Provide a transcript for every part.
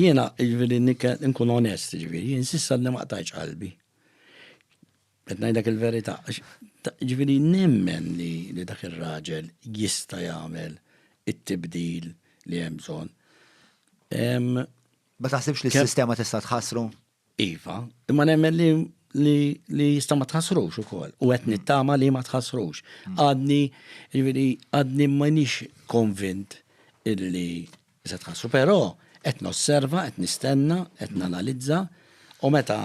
Jiena, jiġifieri nitkellem, inkun onest, jiġifieri, jien s'iss'għadni ma qtajtx qalbi. Qed ngħidlek il-verità, għax jiġifieri nemmen li dak ir-raġel jista' jagħmel it-tibdil li hemm bżonn. Ma taħsibx li s-sistema tista' tħassru? Iva, imma nemmen li li, li jista ma tħassrux ukoll u qed nittama li ma tħassrux. Mm. Għadni, jiġifieri għadni ma nix konvint illi se tħassru, però qed nosserva, qed nistenna, qed mm. nanalizza u meta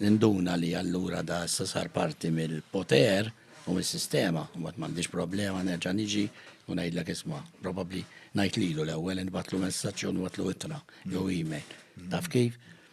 ninduna li allura da issa sar parti mill-poter u mill-sistema, u ma m'għandix problema nerġa' niġi u ngħidlek isma' probabbli ngħid lilu l-ewwel inbatlu messaġġ u nbatlu ittra jew mm. email. Taf kif?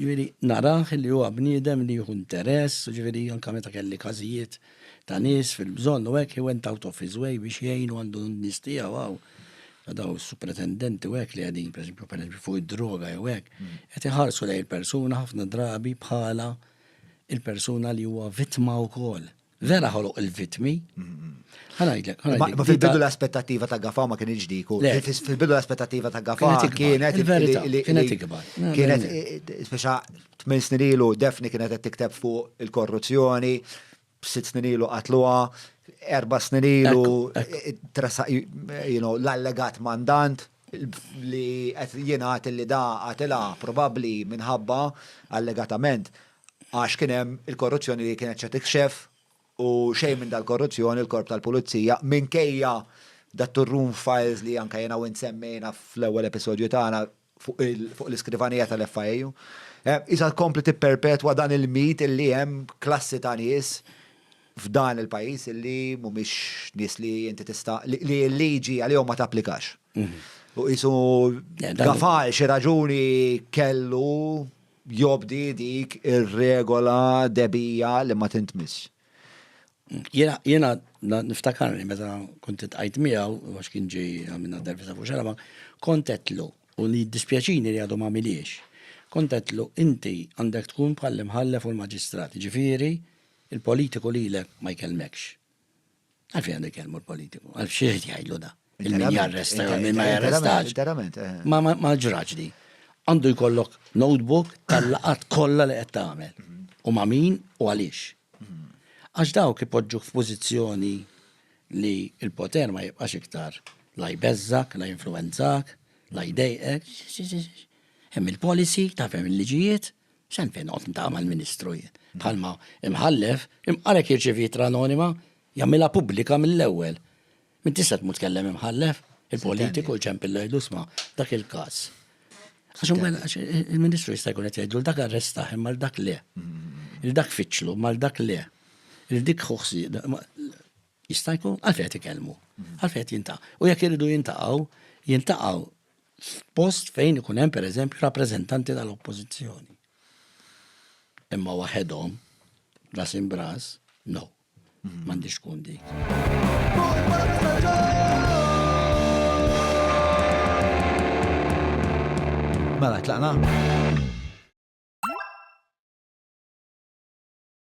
Jiġifieri narah li huwa bniedem li jieħu interess, jiġifieri anke meta kelli każijiet ta' nies fil-bżonn u hekk, he went out of his way biex jgħin u għandu n-nies tiegħu hawn, dawn is-supretendenti u hekk li qegħdin pereżempju pereżempju fuq id-droga jew hekk, qed iħarsu lejn il-persuna ħafna drabi bħala il-persuna li huwa vittma wkoll. Vera ħoloq il-vitmi. Għanajdlek, għanajdlek. Ma fil-bidu l-aspettativa ta' gafa ma kien iġdiku. Fil-bidu l-aspettativa ta' gafa kienet. Kienet ikbar. Kienet, speċa, tmin snirilu defni kienet qed tikteb fuq il-korruzzjoni, sitt snirilu qatluha, erba snirilu l-allegat mandant. li qed jingħad li da qatilha probabbli minħabba allegatament għax kien hemm il-korruzzjoni li kienet se tikxef u xejn minn dal-korruzzjoni l-korp tal-pulizija minkejja dat-turroom files li anke jiena u int semmejna fl-ewwel episodju tagħna fuq l-iskrivanija tal-FIU. Qisha tkompli tipperpetwa dan il-mit li hemm klassi ta' nies f'dan il-pajjiż li mhumiex nies li inti tista' li l-liġi għalihom ma tapplikax. U qisu gafal xi raġuni kellu jobdi dik ir-regola debija li ma tintmiss. Jena niftakarni meta kont tqajt miegħu għax kien ġej għamilna intervista fuq xarama, kontetlu u li dispjaċini li għadhom għamiliex. Kontetlu inti għandek tkun bħall-imħallef u l-maġistrat, ġifieri Il-politiku lilek ma jkellmekx. Għalfejn għandu jkellmu l-politiku? Għal xi jrid jgħidlu da? Il-min jarresta jew min ma jarrestax. Eh. Ma ma ġraġ di. Għandu jkollok notebook tal-laqat kollha li qed tagħmel. Mhm. U ma' min u għaliex. Mhm. Għax dawk ipoġġuk f'pożizzjoni li il-poter ma jibqax iktar la jbeżżak, la jinfluenzak, la jdejqek. Hemm il-policy, tafhem il-liġijiet, Xem fejn noqgħod ntama l-Ministru jien. Bħalma imħallef, imqalek jirċevi jitra anonima, jagħmilha pubblika mill-ewwel. Min tista' tmut tkellem imħallef, il-politiku l-ċemp il-lejdu sma, dak il-każ. Għax il-Ministru jista' jkun qed jgħidu dak arrestaħ imma dak le. Il-dak fiċlu mal dak le. Il-dik ħuħsi jista' jkun għalfejn qed ikellmu. Għalfejn qed jinta'. U jekk iridu jintaqgħu, jintaqgħu f'post fejn ikun hemm pereżempju rappreżentanti tal-Oppożizzjoni. Imma waħedhom, ras imbras, no, mhm. m'għandix tkun dik. Mela, tlaqna?